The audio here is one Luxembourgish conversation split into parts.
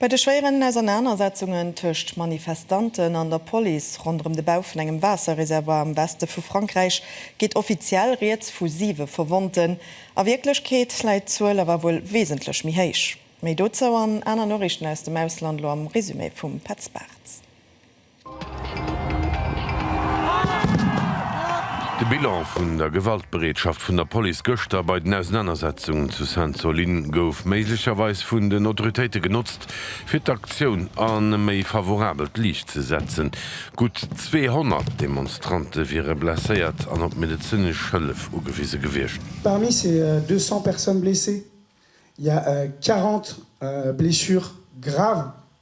Bei de schwéieren Ausernanersetzungen tëscht Manifestanten an der Police ronderëm de Bau vun engem Waasserreservoir am Weste vu Frankräich geet offiziell rieds vu siwe Verwonnten. A Wierklechkeet läit d'Zuel awer wuel wesentlech méi héich. Méi dozou an aner Noriichten aus dem Ausland elo am Resumé vum Petz Bartz. De Bilan vun der Gewaltbereetschaft vun der Police gëschter bei den Ausenanersetzungen zu Sainte-Soline gouf méiglecherweis vun den Autoritéite genotzt, fir d'Aktioun an e méi favorabelt Liicht ze setzen. Gutt 200 Demonstrante wiere blesséiert an op medezinesch Hëllef ugewise gewiescht. Parmi ces 200 personnes blessées, il y a 40 blessures graves.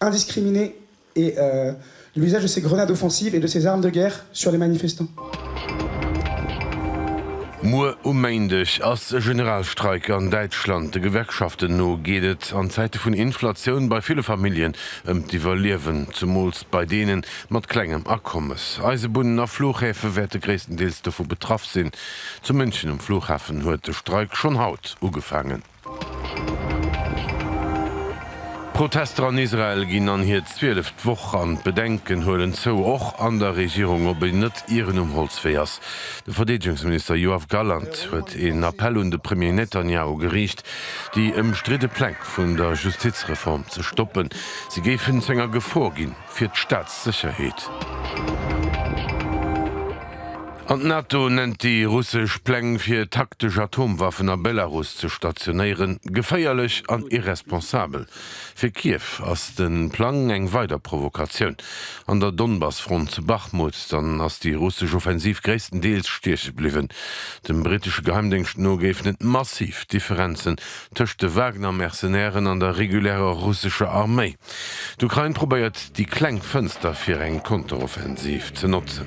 indiscriminée et l'usage de ces grenades offensives et de ces armes de guerre sur les manifestants. Muer um Méindeg ass e Generalstreik an Däitschland. De Gewerkschaften no geet et an Zäite vun Inflatioun bei ville Familljen ëm d'Iwwerliewen, zemools bei deene mat klengem Akommes. Eisebunnen a Fluchhäfe wäerte gréisstendeels dovu betraff sinn. Zu München um Flughafen huet de Streik schonn haut ugefaangen. D'Protester an Israel ginn an hir zwieleft Woch an d'Bedenken huelen zou, och an der Regierung, ob een net ieren um Holzwee ass. De Verdeedegungsminister Yoav Gallant huet een Appell un de Premier Netanjahu geriicht, déi ëmstridde Pläng vun der Justizreform ze stoppen, si géifen zu enger Gefor ginn. fir d'Staatssécherheet. An d'NATO nennt déi russesch Pläng fir taktesch Atomwaffen a Belarus ze stationéieren, geféierlech an irresponsabel. Fir Kiew ass de Plang eng weider Provokatioun. An der Donbass-Front zu Bachmut dann ass déi russesch Offensiv gréisstendeels stieche bliwwen. Dem brittesche Geheimdéngscht no géifen et massiv Differenzen tëscht de Wagner-Mercenairen an der regulärer russescher Arméi. D'Ukrain probéiert déi kleng Fënster fir eng Konteroffensiv ze notzen.